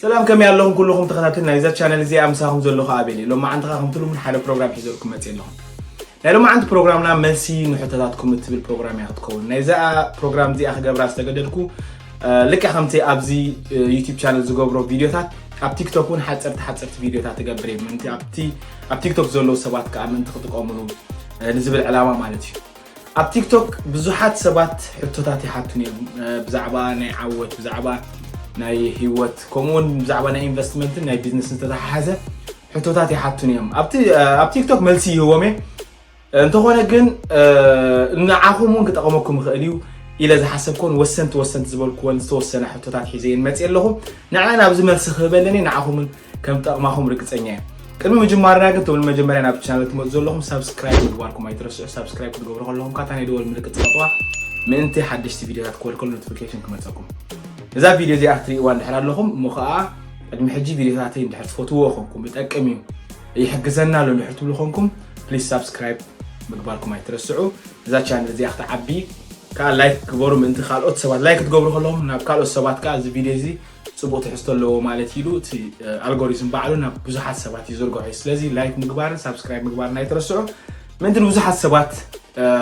ሰላም ከመይ ኣለኹም ኩሉኹም ተኸታተል ናይዛ ቻነል እዚኣ ምሳኹም ዘለኹ ኣቤል እዩ ሎማዓንቲ ኸዓ ከምቲ ልሙድ ሓደ ፕሮግራም ሒዘልኩም መፅእ ኣለኹ ናይ ሎማዓንቲ ፕሮግራምና መልሲ ንሕቶታትኩም እትብል ፕሮግራም እያ ክትከውን ናይዛ ፕሮግራም እዚኣ ክገብራ ዝተገደድኩ ልክዕ ከምቲ ኣብዚ ዩቲብ ቻነል ዝገብሮ ቪድዮታት ኣብ ቲክቶክ እውን ሓፀርቲ ሓፀርቲ ቪድዮታት ትገብር እየ ምእንቲ ኣብቲ ኣብ ቲክቶክ ዘለዉ ሰባት ከዓ ምእንቲ ክጥቀምሉ ንዝብል ዕላማ ማለት እዩ ኣብ ቲክቶክ ብዙሓት ሰባት ሕቶታት ይሓቱን እዮም ብዛዕባ ናይ ዓወት ብዛዕባ ናይ ህይወት ከምኡውን ብዛዕባ ናይ ኢንቨስትመንትን ናይ ቢዝነስ ዝተተሓሓዘ ሕቶታት ይሓቱን እዮም ኣብ ቲክቶክ መልሲ ይህቦም እየ እንተኾነ ግን ንዓኹም እውን ክጠቕመኩም ይኽእል እዩ ኢለ ዝሓሰብኮን ወሰንቲ ወሰንቲ ዝበልኩወን ዝተወሰነ ሕቶታት ሒዘ እየን መፅእ ኣለኹ ንዕን ኣብዚ መልሲ ክህበ ኣለኒ ንዓኹምን ከም ጠቕማኹም ርግፀኛ እየ ቅድሚ ምጅማርና ግን ትብል መጀመርያ ናብ ቻናል ትመፁ ዘለኹም ሳብስክራይብ ምግባርኩም ኣይትረስዑ ሳብስክራይብ ክትገብሩ ከለኹም ካታ ናይ ደወል ምልክት ፅቐጥዋ ምእንቲ ሓደሽቲ ቪድዮታት ክወልከሉ ኖቲፊኬሽን ክመፀኩም እዛ ቪድዮ እዚኣ ክትርእይዋ እንድሕር ኣለኹም እሞ ከዓ ቅድሚ ሕጂ ቪድዮታተይ እንድሕር ትፈትዎ ኮንኩም ይጠቅም እዩ ይሕግዘና ኣሎ ድሕር ትብሉ ኮንኩም ፕሊስ ሳብስክራይብ ምግባርኩም ኣይትረስዑ እዛ ቻነል እዚኣ ክትዓቢ ከዓ ላይክ ግበሩ ምእንቲ ካልኦት ሰባት ላይክ ክትገብሩ ከለኹም ናብ ካልኦት ሰባት ከዓ እዚ ቪድዮ እዚ ፅቡቅ ትሕዝቶ ኣለዎ ማለት ኢሉ እቲ ኣልጎሪዝም ባዕሉ ናብ ብዙሓት ሰባት ይዝርግሖ እዩ ስለዚ ላይክ ምግባርን ሳብስክራይብ ምግባርን ኣይትረስዑ ምእንቲ ንብዙሓት ሰባት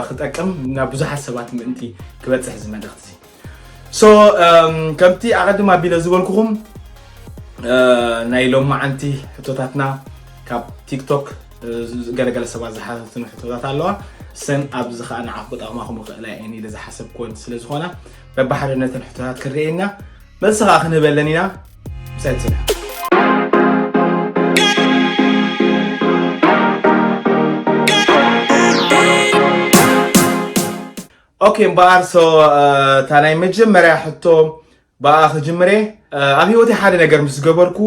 ክጠቅም ናብ ብዙሓት ሰባት ምእንቲ ክበፅሕ እዚ መልእክቲ ሶ ከምቲ ኣቐድም ኣቢለ ዝበልኩኹም ናይ ሎማዓንቲ ሕቶታትና ካብ ቲክቶክ ገለገለ ሰባት ዝሓተትኑ ሕቶታት ኣለዋ ሰን ኣብዚ ከዓ ንዓኹ ክጠቕማኹም ይኽእላ እየን ኢለ ዝሓሰብክወን ስለ ዝኾና በባሓደ ነተን ሕቶታት ክንርኤና መልሲ ከዓ ክንህበለን ኢና ምሳይ ትስራሕ ኦኬ እምበኣር ሶ እታ ናይ መጀመርያ ሕቶ ብኣ ክጅምር እየ ኣብ ሂወተይ ሓደ ነገር ምስ ገበርኩ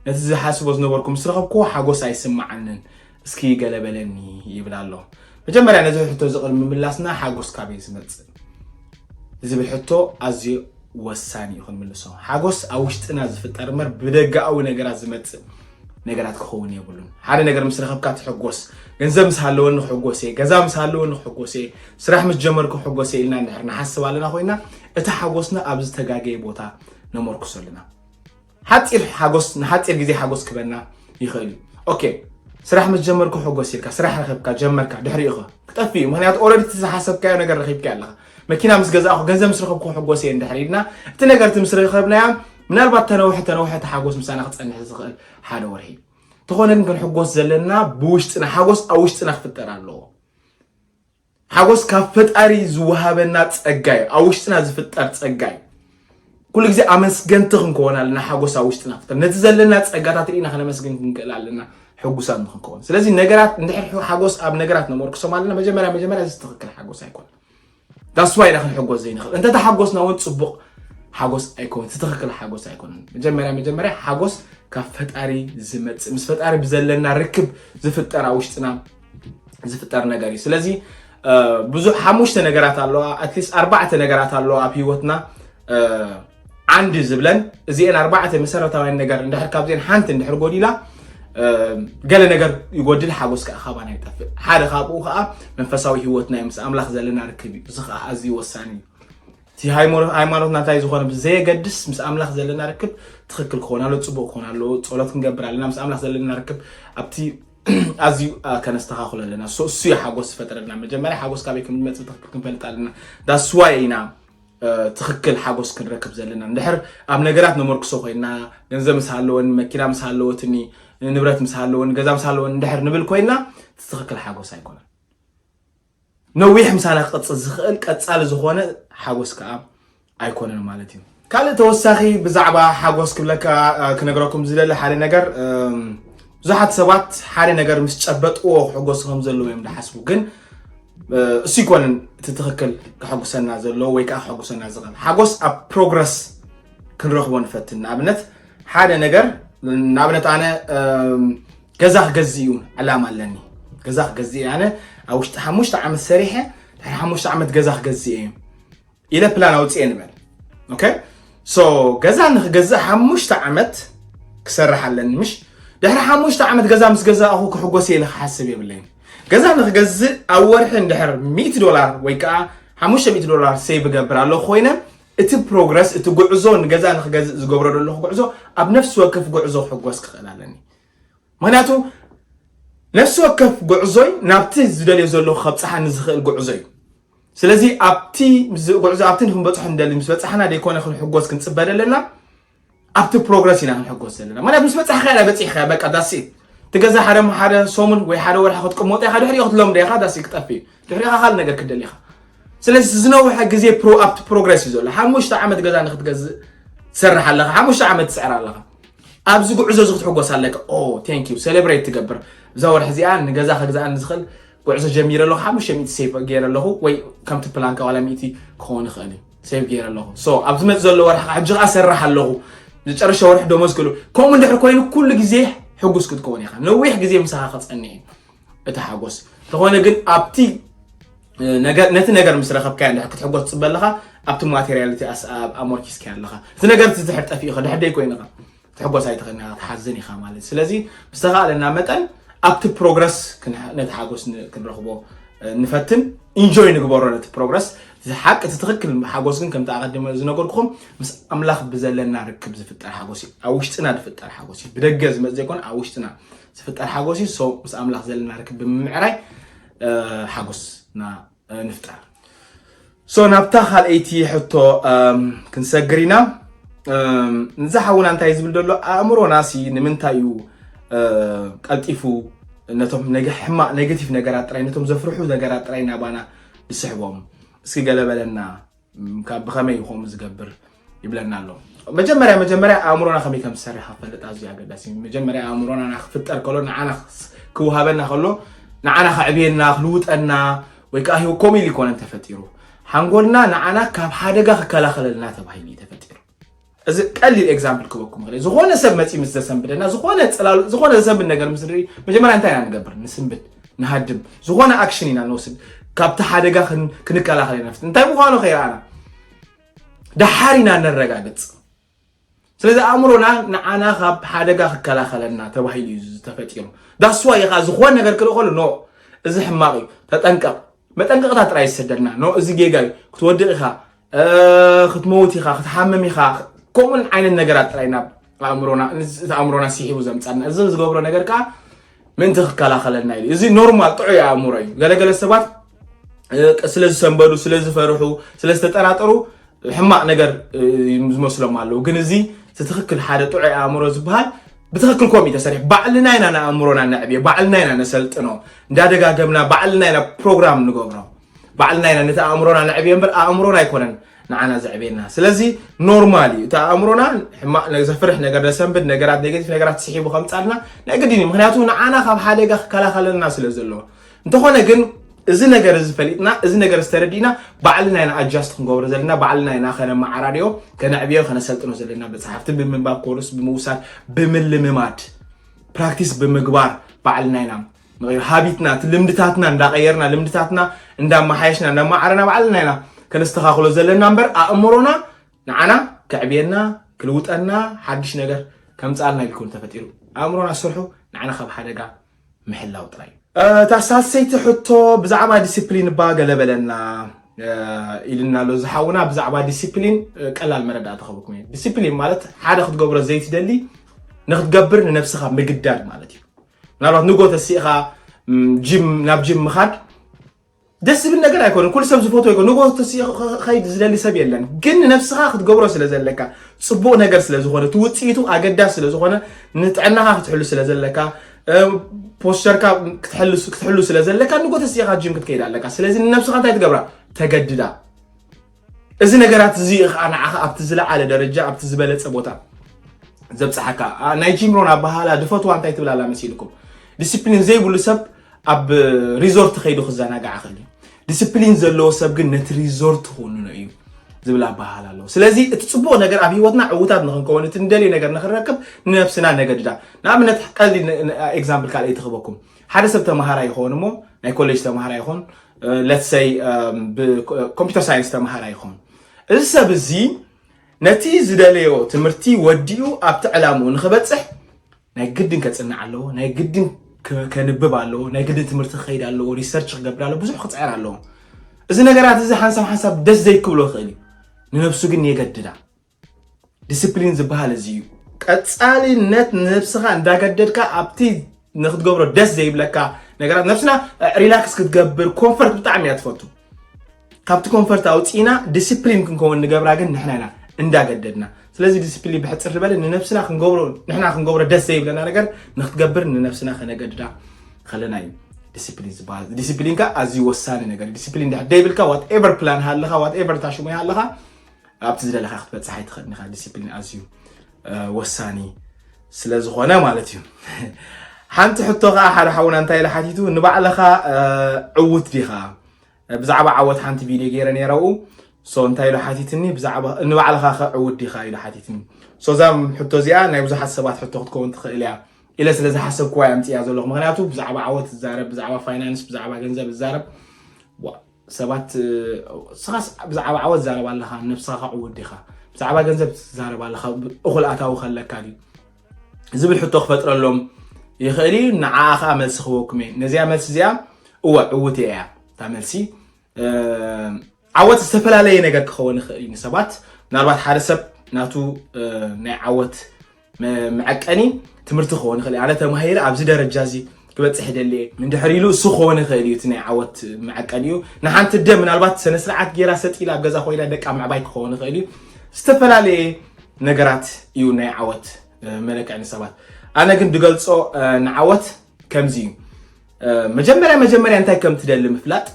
ነቲ ዝሓስቦ ዝነበርኩ ምስ ረኸብኩ ሓጎስ ኣይስምዓንን እስኪ ገለ በለኒ ይብል ኣሎ መጀመርያ ነዚ ሕቶ እዚ ቅድሚ ምላስና ሓጎስ ካበይ ዝመፅእ ዝብል ሕቶ ኣዝዩ ወሳኒ እዩ ክንምልሶ ሓጎስ ኣብ ውሽጥና ዝፍጠር እምበር ብደጋኣዊ ነገራት ዝመፅእ ነገራት ክኸውን የብሉን። ሓደ ነገር ምስ ረኸብካ ትሕጎስ፣ ገንዘብ ምስ ሃለወኒ ክሕጎስ እየ፣ ገዛ ምስ ሃለወኒ ክሕጎስ እየ፣ ስራሕ ምስ ጀመርኩ ክሕጎስ እየ ኢልና እንድሕር ንሓስብ ኣለና ኮይና እቲ ሓጎስና ኣብ ዝተጋገየ ቦታ ነመርክሶ ኣለና። ሓፂር ሓጎስ ንሓፂር ግዜ ሓጎስ ክበና ይኽእል እዩ። ኦኬ ስራሕ ምስ ጀመርኩ ሕጎስ ኢልካ ስራሕ ረኸብካ ጀመርካ ድሕሪኡ ኸ ክጠፍእ እዩ። ምክንያቱ ኦልሬዲ እቲ ዝሓሰብካዮ ነገር ረኺብካዮ ኣለኻ። መኪና ምስ ገዛእኹ ገንዘብ ምስ ረኸብኩ ክሕጎስ እየ እንድሕር ኢልና እቲ ነገርቲ ምስ ረኸብናያ ምናልባት ተነውሐ ተነውሐ ተሓጎስ ምሳና ክፀንሕ ዝኽእል ሓደ ወርሒ ተኾነ ግን ክንሕጎስ ዘለና ብውሽጥና ሓጎስ ኣብ ውሽጥና ክፍጠር ኣለዎ ሓጎስ ካብ ፈጣሪ ዝወሃበና ፀጋ እዩ ኣብ ውሽጥና ዝፍጠር ፀጋ እዩ ኩሉ ግዜ ኣመስገንቲ ክንከውን ኣለና ሓጎስ ኣብ ውሽጥና ክፍጠር ነቲ ዘለና ፀጋታት ርኢና ከነመስግን ክንክእል ኣለና ሕጉሳት ንክንከውን ስለዚ ነገራት እንድሕር ሓጎስ ኣብ ነገራት ነመርክሶም ኣለና መጀመርያ መጀመርያ እዚ ትኽክል ሓጎስ ኣይኮነን ዳስዋይ ኢና ክንሕጎስ ዘይንኽእል እንተተሓጎስና እውን ፅቡቕ ሓጎስ ኣይኮነን ትኽክል ሓጎስ ኣይኮነን መጀመርያ መጀመርያ ሓጎስ ካብ ፈጣሪ ዝመፅእ ምስ ፈጣሪ ብዘለና ርክብ ዝፍጠር ኣብ ውሽጥና ዝፍጠር ነገር እዩ ስለዚ ብዙሕ ሓሙሽተ ነገራት ኣለዋ ኣትሊስት ኣርባዕተ ነገራት ኣለዋ ኣብ ሂወትና ዓንዲ ዝብለን እዚኤን ኣርባዕተ መሰረታውያን ነገር እንድሕር ካብዚኤን ሓንቲ እንድሕር ጎዲላ ገለ ነገር ይጎድል ሓጎስ ከዓ ካባና ይጠፍእ ሓደ ካብኡ ከዓ መንፈሳዊ ሂወትና እዩ ምስ ኣምላኽ ዘለና ርክብ እዩ እዚ ከዓ ኣዝዩ ወሳኒ እዩ እቲ ሃይማኖትና እንታይ ዝኾነ ብዘየገድስ ምስ ኣምላኽ ዘለና ርክብ ትኽክል ክኾን ኣሎ ፅቡቅ ክኾን ኣሎ ፀሎት ክንገብር ኣለና ምስ ኣምላኽ ዘለና ርክብ ኣብቲ ኣዝዩ ከነስተኻኽሎ ኣለና እሱ እዩ ሓጎስ ዝፈጠረልና መጀመርያ ሓጎስ ካበይ ከም ዝመፅእ ትኽክል ክንፈልጥ ኣለና ዳስዋይ ኢና ትኽክል ሓጎስ ክንረክብ ዘለና እንድሕር ኣብ ነገራት ነመርክሶ ኮይና ገንዘብ ምስ ሃለወኒ መኪና ምስ ሃለወትኒ ንብረት ምስ ሃለወኒ ገዛ ምስ ሃለወኒ እንድሕር ንብል ኮይና ትኽክል ሓጎስ ኣይኮነን ነዊሕ ምሳና ክቐፅል ዝኽእል ቀፃሊ ዝኾነ ሓጎስ ከዓ ኣይኮነን ማለት እዩ ካልእ ተወሳኺ ብዛዕባ ሓጎስ ክብለካ ክነግረኩም ዝደሊ ሓደ ነገር ብዙሓት ሰባት ሓደ ነገር ምስ ጨበጥዎ ክሕጎሱ ከም ዘለዉ እዮም ዝሓስቡ ግን እሱ ይኮነን እቲ ትክክል ከሐጉሰና ዘለዎ ወይ ከዓ ከሐጉሰና ዝኽእል ሓጎስ ኣብ ፕሮግረስ ክንረኽቦ ንፈትን ንኣብነት ሓደ ነገር ንኣብነት ኣነ ገዛ ክገዝ እዩ ዕላማ ኣለኒ ገዛ ክገዝ እየ ኣነ ኣብ ውሽጢ ሓሙሽተ ዓመት ሰሪሐ ድሕሪ ሓሙሽተ ዓመት ገዛ ክገዝ እየ ኢለ ፕላን ኣውፅኤ ንበል ኦኬ ሶ ገዛ ንክገዝእ ሓሙሽተ ዓመት ክሰርሕ ኣለኒ ምሽ ድሕሪ ሓሙሽተ ዓመት ገዛ ምስ ገዛእኹ ክሕጎስ እየ ኢለ ክሓስብ የብለይን ገዛ ንክገዝእ ኣብ ወርሒ እንድሕር 100 ዶላር ወይ ከዓ 500 ዶላር ሴቭ እገብር ኣለኹ ኮይነ እቲ ፕሮግረስ እቲ ጉዕዞ ንገዛ ንክገዝእ ዝገብሮ ዘለኹ ጉዕዞ ኣብ ነፍሲ ወከፍ ጉዕዞ ክሕጎስ ክኽእል ኣለኒ ምኽንያቱ ነፍሲ ወከፍ ጉዕዞይ ናብቲ ዝደልዮ ዘለኹ ከብፅሓኒ ዝኽእል ጉዕዞ እዩ ስለዚ ኣብቲ ጉዕዞ ኣብቲ ንክንበፅሖ ንደሊ ምስ በፃሕና ደይኮነ ክንሕጎስ ክንፅበ ዘለና ኣብቲ ፕሮግረስ ኢና ክንሕጎስ ዘለና ምክንያቱ ምስ በፃሕካ ኢላ በፂሕካ በቃ ዳስኢት እቲ ገዛ ሓደ ሓደ ሰሙን ወይ ሓደ ወርሒ ክትቅመጦ ኢኻ ድሕሪኡ ክትለምዶ ኢኻ ዳሲ ክጠፊ እዩ ድሕሪኻ ካልእ ነገር ክደሊ ኢኻ ስለዚ ዝነውሐ ግዜ ኣብቲ ፕሮግረስ እዩ ዘሎ ሓሙሽተ ዓመት ገዛ ንክትገዝእ ትሰርሕ ኣለኻ ሓሙሽተ ዓመት ትፅዕር ኣለኻ ኣብዚ ጉዕዞ እዚ ክትሕጎስ ኣለካ ኦ ቴንክ ዩ ሴሌብሬት ትገብር እዛ ወርሒ እዚኣ ንገዛ ከግዛኣኒ ዝኽእል ጉዕዞ ጀሚረ ኣለኹ ሓሙሽተ ሚእቲ ሴቭ ገይረ ኣለኹ ወይ ከምቲ ፕላንካ ዋላ ሚእቲ ክኸውን ይኽእል እዩ ሴቭ ገይረ ኣለኹ ሶ ኣብ ዝመፅ ዘሎ ወርሒ ከዓ ሕጂ ከዓ ሰራሕ ኣለኹ ዝጨረሸ ወርሒ ደሞዝ ክእሉ ከምኡ እንድሕር ኮይኑ ኩሉ ግዜ ሕጉስ ክትከውን ኢኻ ነዊሕ ግዜ ምሳኻ ክፀንሕ እዩ እቲ ሓጎስ እንተኾነ ግን ኣብቲ ነቲ ነገር ምስ ረኸብካዮ እንድሕር ክትሕጎስ ትፅበ ኣለኻ ኣብቲ ማቴሪያልቲ ኣሞርኪስካዮ ኣለኻ እቲ ነገር እቲ ድሕር ጠፊእኻ ድሕር ደይ ኮይንኻ ትሕጎስ ኣይትኽእልን ኢኻ ትሓዝን ኢኻ ማለት ስለዚ ብዝተኻእለና መጠን ኣብቲ ፕሮግረስ ነቲ ሓጎስ ክንረኽቦ ንፈትን ኢንጆይ ንግበሮ ነቲ ፕሮግረስ ሓቂ እቲ ትኽክል ሓጎስ ግን ከምቲ ኣቐድመ ዝነገርኩኹም ምስ ኣምላኽ ብዘለና ርክብ ዝፍጠር ሓጎስ እዩ ኣብ ውሽጥና ዝፍጠር ሓጎስ እዩ ብደገ ዝመፅ ዘይኮነ ኣብ ውሽጥና ዝፍጠር ሓጎስ እዩ ሰው ምስ ኣምላኽ ዘለና ርክብ ብምምዕራይ ሓጎስ ና ንፍጠር ሶ ናብታ ካልኣይቲ ሕቶ ክንሰግር ኢና ንዛ ሓውና እንታይ ዝብል ዘሎ ኣእምሮና ሲ ንምንታይ እዩ ቀልጢፉ ነቶም ሕማቅ ኔጌቲቭ ነገራት ጥራይ ነቶም ዘፍርሑ ነገራት ጥራይ ናባና ዝስሕቦም እስኪ ገለ በለና ካብ ብኸመይ እዩ ከምኡ ዝገብር ይብለና ኣሎ መጀመርያ መጀመርያ ኣእምሮና ከመይ ከም ዝሰርሕ ክፈልጥ ኣዝዩ ኣገዳሲ እዩ መጀመርያ ኣእምሮና ንክፍጠር ከሎ ንዓና ክውሃበና ከሎ ንዓና ከዕብየና ክልውጠና ወይ ከዓ ሂው ኮሚል ይኮነን ተፈጢሩ ሓንጎልና ንዓና ካብ ሓደጋ ክከላኸለልና ተባሂሉ እዩ ተፈጢሩ እዚ ቀሊል ኤግዛምፕል ክበኩም ክእል ዝኾነ ሰብ መፂ ምስ ዘሰንብደና ዝኾነ ፅላሉ ዝኾነ ዘሰንብድ ነገር ምስ ንርኢ መጀመርያ እንታይ ኢና ንገብር ንስንብድ ንሃድም ዝኾነ ኣክሽን ኢና ንወስድ ካብቲ ሓደጋ ክንከላኸል ኢና ንፍት እንታይ ምዃኑ ከይረኣና ደሓር ኢና ነረጋግፅ ስለዚ ኣእምሮና ንዓና ካብ ሓደጋ ክከላኸለና ተባሂሉ እዩ ዝተፈጢሩ ዳስዋ ኢኻ ዝኾነ ነገር ክርኢ ከሉ ኖ እዚ ሕማቕ እዩ ተጠንቀቕ መጠንቀቕታ ጥራይ ዝሰደልና ኖ እዚ ጌጋ እዩ ክትወድቕ ኢኻ ክትመውት ኢኻ ክትሓምም ኢኻ ከምኡን ዓይነት ነገራት ጥራይ ናብ ኣእምሮና እቲ ኣእምሮና ስሒቡ ዘምፃና እዚ ዝገብሮ ነገር ከዓ ምእንቲ ክከላኸለልና ኢሉ እዚ ኖርማል ጥዑይ ኣእምሮ እዩ ገለገለ ሰባት ስለ ዝሰንበዱ ስለ ዝፈርሑ ስለ ዝተጠራጠሩ ሕማቅ ነገር ዝመስሎም ኣለዉ ግን እዚ ትክክል ሓደ ጥዑይ ኣእምሮ ዝበሃል ብትክክል ኮም እዩ ተሰሪሑ ባዕልና ኢና ንኣእምሮና ነዕብዮ ባዕልና ኢና ነሰልጥኖ እንዳደጋገምና ባዕልና ኢና ፕሮግራም ንገብሮ ባዕልና ኢና ነቲ ኣእምሮና ነዕብዮ እምበር ኣእምሮና ኣይኮነን ንዓና ዘዕብየና ስለዚ ኖርማል እዩ እቲ ኣእምሮና ሕማቅ ዘፍርሕ ነገር ዘሰንብድ ነገራት ኔጌቲቭ ነገራት ስሒቡ ከምፃልና ናይ ግድን እዩ ምክንያቱ ንዓና ካብ ሓደጋ ክከላኸለልና ስለ ዘለዎ እንተኾነ ግን እዚ ነገር እዚ ፈሊጥና እዚ ነገር ዝተረዲእና ባዕልና ኢና ኣጃስት ክንገብሮ ዘለና ባዕልና ኢና ከነመዓራርዮ ከነዕብዮ ከነሰልጥኖ ዘለና መፅሓፍቲ ብምንባብ ኮርስ ብምውሳድ ብምልምማድ ፕራክቲስ ብምግባር ባዕልና ኢና ሃቢትና እቲ ልምድታትና እንዳቐየርና ልምድታትና እንዳመሓየሽና እንዳማዕረና ባዕልና ኢና ከነስተኻኽሎ ዘለና እምበር ኣእምሮና ንዓና ከዕብየና ክልውጠና ሓድሽ ነገር ከምፃልና ኢልኩም ተፈጢሩ ኣእምሮና ስርሑ ንዓና ካብ ሓደጋ ምሕላው ጥራይ እታ ሳልሰይቲ ሕቶ ብዛዕባ ዲስፕሊን እባ ገለ በለና ኢልና ኣሎ ዝሓውና ብዛዕባ ዲሲፕሊን ቀላል መረዳእታ ክህበኩም እዩ ዲሲፕሊን ማለት ሓደ ክትገብሮ ዘይትደሊ ንክትገብር ንነብስኻ ምግዳድ ማለት እዩ ምናልባት ንጎ ተሲእኻ ናብ ጂም ምኻድ ደስ ዝብል ነገር ኣይኮነ ኩሉ ሰብ ዝፈትዎ ይኮ ንጎ ተሲኡ ከይድ ዝደሊ ሰብ የለን ግን ንነብስኻ ክትገብሮ ስለ ዘለካ ፅቡቅ ነገር ስለ ዝኾነ እቲ ውፅኢቱ ኣገዳሲ ስለ ዝኾነ ንጥዕናኻ ክትሕሉ ስለ ዘለካ ፖስቸርካ ክትሕሉ ስለ ዘለካ ንጎ ተሲእኻ ጂም ክትከይድ ኣለካ ስለዚ ንነብስኻ እንታይ ትገብራ ተገድዳ እዚ ነገራት እዚ እዩ ከዓ ንዓኻ ኣብቲ ዝለዓለ ደረጃ ኣብቲ ዝበለፀ ቦታ ዘብፅሓካ ናይ ጂም ሮን ኣበሃላ ድፈትዋ እንታይ ትብል ኣላ መሲልኩም ዲስፕሊን ዘይብሉ ሰብ ኣብ ሪዞርት ከይዱ ክዘናጋዕ ክእል እዩ ዲስፕሊን ዘለዎ ሰብ ግን ነቲ ሪዞርት ክውንኖ እዩ ዝብል ኣበሃል ኣለዎ ስለዚ እቲ ፅቡቅ ነገር ኣብ ሂወትና ዕውታት ንክንከውን እቲ ንደልዮ ነገር ንክንረክብ ንነብስና ነገድዳ ንኣብነት ቀልዲ ኤግዛምፕል ካልኣይ ትክበኩም ሓደ ሰብ ተምሃራ ይኸውን እሞ ናይ ኮሌጅ ተምሃራ ይኹን ለት ሰይ ብኮምፒተር ሳይንስ ተምሃራ ይኸውን እዚ ሰብ እዚ ነቲ ዝደለዮ ትምህርቲ ወዲኡ ኣብቲ ዕላምኡ ንክበፅሕ ናይ ግድን ከፅንዕ ኣለዎ ናይ ግድን ከንብብ ኣለዎ ናይ ግድን ትምህርቲ ክኸይድ ኣለዎ ሪሰርች ክገብር ኣለዎ ብዙሕ ክፅዕር ኣለዎ እዚ ነገራት እዚ ሓንሳብ ሓንሳብ ደስ ዘይክብሎ ይኽእል እዩ ንነብሱ ግን የገድዳ ዲስፕሊን ዝበሃል እዚ እዩ። ቀጻሊነት ንነብስኻ እንዳገደድካ ኣብቲ ንክትገብሮ ደስ ዘይብለካ ነገራት ነብስና ሪላክስ ክትገብር ኮንፈርት ብጣዕሚ እያ ትፈቱ። ካብቲ ኮንፈርት ኣውፂእና ዲስፕሊን ክንከውን ንገብራ ግን ንሕና ኢና እንዳገደድና። ስለዚ ዲስፕሊን ብሕፅር ዝበለ ንነብስና ክንገብሮ ንሕና ክንገብሮ ደስ ዘይብለና ነገር ንክትገብር ንነብስና ከነገድዳ ከለና እዩ። ዲስፕሊን ዝበሃል ዲስፕሊን ከ ኣዝዩ ወሳኒ ነገር ዲስፕሊን ድሕር ደይብልካ ዋት ኤቨር ፕላን ሃለኻ ዋት ኤቨር ታሽሙ ሃለኻ ኣብቲ ዝደለኻ ክትበፅሕ ኣይትኽእልን ኢኻ ዲሲፕሊን ኣዝዩ ወሳኒ ስለ ዝኾነ ማለት እዩ ሓንቲ ሕቶ ከዓ ሓደ ሓውና እንታይ ኢለ ሓቲቱ ንባዕልኻ ዕውት ዲኻ ብዛዕባ ዓወት ሓንቲ ቪድዮ ገይረ ነይረኡ ሶ እንታይ ኢሉ ሓቲትኒ ብዛዕባ ንባዕልኻ ከ ዕውት ዲኻ ኢሉ ሓቲትኒ ሶ እዛ ሕቶ እዚኣ ናይ ብዙሓት ሰባት ሕቶ ክትከውን ትኽእል እያ ኢለ ስለ ዝሓሰብኩዋ እያ ምፅያ ዘለኹ ምክንያቱ ብዛዕባ ዓወት ዝዛረብ ብዛዕባ ፋይናንስ ብዛዕባ ገንዘብ ዝዛረብ ሰባት ንስኻስ ብዛዕባ ዓወት ትዛረብ ኣለኻ ንነብስኻ ከዕውት ዲኻ ብዛዕባ ገንዘብ ትዛረብ ኣለኻ እኹል ኣታዊ ከለካ ድዩ ዝብል ሕቶ ክፈጥረሎም ይኽእል እዩ ንዓኣ ከዓ መልሲ ክበኩም እየ ነዚኣ መልሲ እዚኣ እወ ዕውት እያ እታ መልሲ ዓወት ዝተፈላለየ ነገር ክኸውን ይኽእል እዩ ንሰባት ምናልባት ሓደ ሰብ ናቱ ናይ ዓወት መዐቀኒ ትምህርቲ ክኾን ይኽእል ኣነ ተማሂረ ኣብዚ ደረጃ እዚ ክበፅሕ ይደሊ እየ ንድሕሪ ኢሉ እሱ ክኾን ይኽእል እዩ እቲ ናይ ዓወት መዐቀኒ እዩ ንሓንቲ ደ ምናልባት ስነ ስርዓት ጌራ ሰጢላ ኣብ ገዛ ኮይና ደቃ ምዕባይ ክኸውን ይኽእል እዩ ዝተፈላለየ ነገራት እዩ ናይ ዓወት መለክዒ ንሰባት ኣነ ግን ድገልፆ ንዓወት ከምዚ እዩ መጀመርያ መጀመርያ እንታይ ከም ትደሊ ምፍላጥ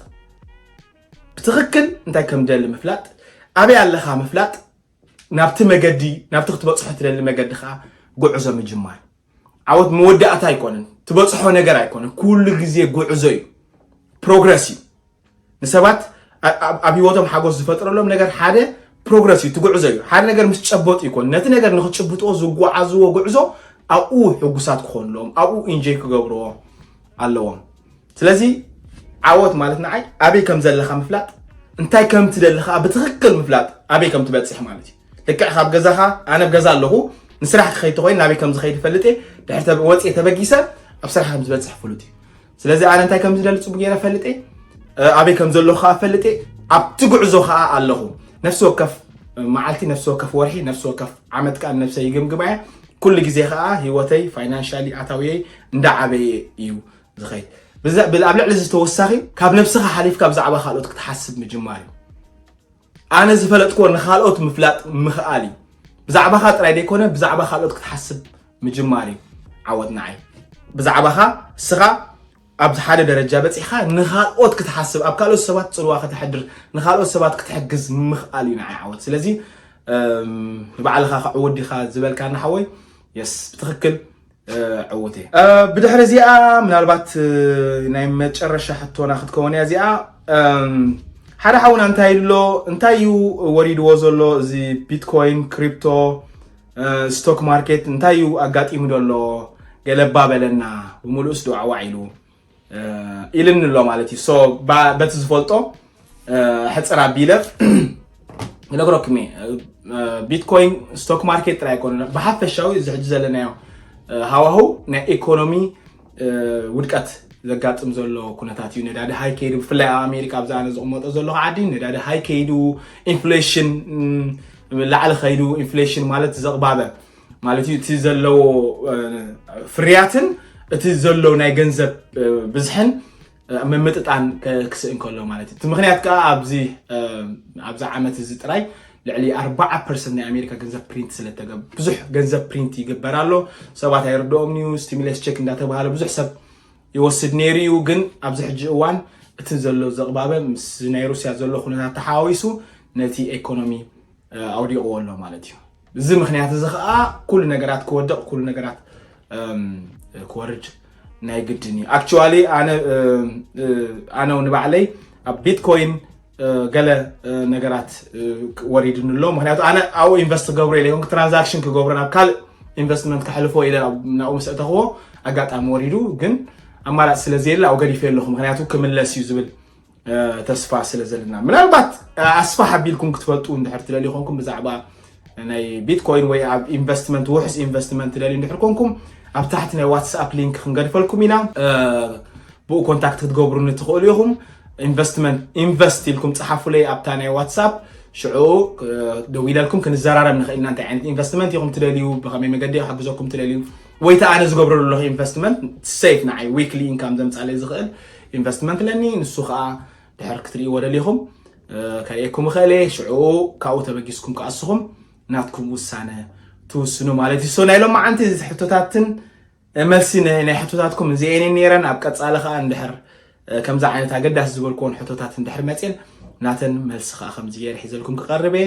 ብትኽክል እንታይ ከም ደሊ ምፍላጥ ኣበይ ኣለኻ ምፍላጥ ናብቲ መገዲ ናብቲ ክትበጽሖ ትደሊ መገዲ ከኣ ጉዕዞ ምጅማር ዓወት መወዳእታ ኣይኮነን ትበጽሖ ነገር ኣይኮነን ኩሉ ግዜ ጉዕዞ እዩ ፕሮግረስ እዩ ንሰባት ኣብ ህይወቶም ሓጎስ ዝፈጥረሎም ነገር ሓደ ፕሮግረስ እዩ ትጉዕዞ እዩ ሓደ ነገር ምስ ጨበጡ ይኮን ነቲ ነገር ንክጭብጥዎ ዝጓዓዝዎ ጉዕዞ ኣብኡ ሕጉሳት ክኾንሎም ኣብኡ ኢንጆይ ክገብርዎ ኣለዎም ስለዚ ዓወት ማለት ንዓይ ኣበይ ከም ዘለኻ ምፍላጥ እንታይ ከም ትደሊ ከዓ ብትኽክል ምፍላጥ ኣበይ ከም ትበፅሕ ማለት እዩ ልክዕ ካብ ገዛኻ ኣነ ብ ገዛ ኣለኹ ንስራሕ ክኸይድ ተኮይኑ ናበይ ከም ዝኸይድ ይፈልጥ እየ ድሕር ወፅየ ተበጊሰ ኣብ ስራሕ ከም ዝበፅሕ ፍሉጥ እዩ ስለዚ ኣነ እንታይ ከም ዝደሊ ፅቡቅ ገይረ ፈልጥ እየ ኣበይ ከም ዘለኹ ከዓ ፈልጥ እየ ኣብቲ ጉዕዞ ከዓ ኣለኹ ነፍሲ ወከፍ መዓልቲ ነፍሲ ወከፍ ወርሒ ነፍሲ ወከፍ ዓመት ከዓ ነብሰ ይግምግማ እየ ኩሉ ግዜ ከዓ ሂወተይ ፋይናንሻሊ ኣታውየይ እንዳዓበየ እዩ ዝኸይድ ኣብ ልዕሊ እዚ ተወሳኺ ካብ ነብስኻ ሓሊፍካ ብዛዕባ ካልኦት ክትሓስብ ምጅማር እዩ ኣነ ዝፈለጥክዎ ንካልኦት ምፍላጥ ምኽኣል እዩ ብዛዕባኻ ጥራይ ዘይኮነ ብዛዕባ ካልኦት ክትሓስብ ምጅማር እዩ ዓወት ንዓይ ብዛዕባኻ እስኻ ኣብዚ ሓደ ደረጃ በፂሕካ ንካልኦት ክትሓስብ ኣብ ካልኦት ሰባት ፅልዋ ከተሕድር ንካልኦት ሰባት ክትሕግዝ ምኽኣል እዩ ንዓይ ዓወት ስለዚ ንባዕልኻ ክዕወት ዲኻ ዝበልካ ንሓወይ የስ ብትኽክል ዕውት እየ ብድሕሪ እዚኣ ምናልባት ናይ መጨረሻ ሕቶና ክትከውን እያ እዚኣ ሓደ ሓውና እንታይ ኣሎ እንታይ እዩ ወሪድዎ ዘሎ እዚ ቢትኮይን ክሪፕቶ ስቶክ ማርኬት እንታይ እዩ ኣጋጢሙ ዘሎ ገለባ በለና ብምሉእስ ዶ ዓዋዕ ኢሉ ኢልኒ ኣሎ ማለት እዩ በቲ ዝፈልጦ ሕፅር ኣቢለ ይነግረኩም እየ ቢትኮይን ስቶክ ማርኬት ጥራይ ኣይኮነ ብሓፈሻዊ እዚ ሕጂ ዘለናዮ ሃዋሁ ናይ ኢኮኖሚ ውድቀት ዘጋጥም ዘሎ ኩነታት እዩ ነዳዲ ሃይ ከይዱ ብፍላይ ኣብ ኣሜሪካ ኣብዛ ኣነ ዝቕመጦ ዘለኹ ዓዲ ነዳዲ ሃይ ከይዱ ኢንፍሌሽን ላዕሊ ከይዱ ኢንፍሌሽን ማለት ዘቕባበ ማለት እዩ እቲ ዘለዎ ፍርያትን እቲ ዘሎ ናይ ገንዘብ ብዝሕን ምምጥጣን ክስእን ከሎ ማለት እዩ እቲ ምክንያት ከዓ ኣብዚ ኣብዚ ዓመት እዚ ጥራይ ልዕሊ 4 ፐርሰንት ናይ ኣሜሪካ ገንዘብ ፕሪንት ስለተገ ብዙሕ ገንዘብ ፕሪንት ይግበር ኣሎ ሰባት ኣይርድኦም እዩ ስቲሙለስ ቸክ እንዳተባሃለ ብዙሕ ሰብ ይወስድ ነይሩ እዩ ግን ኣብዚ ሕጂ እዋን እቲ ዘሎ ዘቕባበ ምስ ናይ ሩስያ ዘሎ ኩነታት ተሓዋዊሱ ነቲ ኤኮኖሚ ኣውዲቕዎ ኣሎ ማለት እዩ ብዚ ምክንያት እዚ ከዓ ኩሉ ነገራት ክወድቕ ኩሉ ነገራት ክወርድ ናይ ግድን እዩ ኣክቹዋሊ ኣነ ንባዕለይ ኣብ ቢትኮይን ገለ ነገራት ወሪድኒ ኣሎ ምክንያቱ ኣነ ኣብኡ ኢንቨስት ክገብሮ ኢለ ኮንክ ትራንዛክሽን ክገብሮ ናብ ካልእ ኢንቨስትመንት ክሕልፎ ኢለ ናብኡ ምስ እተኽዎ ኣጋጣሚ ወሪዱ ግን ኣማራፂ ስለ ዘየለ ኣብኡ ገዲፈ ኣለኹ ምክንያቱ ክምለስ እዩ ዝብል ተስፋ ስለ ዘለና ምናልባት ኣስፋሕ ኣቢልኩም ክትፈልጡ እንድሕር ትደልዩ ኮንኩም ብዛዕባ ናይ ቢትኮይን ወይ ኣብ ኢንቨስትመንት ውሕስ ኢንቨስትመንት ትደልዩ እንድሕር ኮንኩም ኣብ ታሕቲ ናይ ዋትስኣፕ ሊንክ ክንገድፈልኩም ኢና ብኡ ኮንታክት ክትገብሩኒ ትኽእሉ ኢኹም ኢንቨስትመንት ኢንቨስት ኢልኩም ፀሓፉለይ ኣብታ ናይ ዋትስኣፕ ሽዑ ደው ኢለልኩም ክንዘራረብ ንኽእል ኢና እንታይ ዓይነት ኢንቨስትመንት ኢኹም ትደልዩ ብኸመይ መገዲ ክሓግዘኩም ትደልዩ ወይ ተኣነ ዝገብረሉ ኣለኹ ኢንቨስትመንት ሰይፍ ንዓይ ዊክሊ ኢንካም ዘምፃለይ ዝኽእል ኢንቨስትመንት ኣለኒ ንሱ ከኣ ድሕር ክትርእይዎ ደሊኹም ከርእየኩም እኽእል እየ ሽዑ ካብኡ ተበጊስኩም ከኣ ንስኹም ናትኩም ውሳነ ትውስኑ ማለት እዩ ሶ ናይ ሎማዓንቲ ሕቶታትን መልሲ ናይ ሕቶታትኩም እዚኤን ነይረን ኣብ ቀፃሊ ከዓ እንድሕር ከምዚ ዓይነት ኣገዳሲ ዝበልክዎን ሕቶታት እንድሕር መፅን ናተን መልሲ ከዓ ከምዚ ገይረ ሒዘልኩም ክቐርብ እየ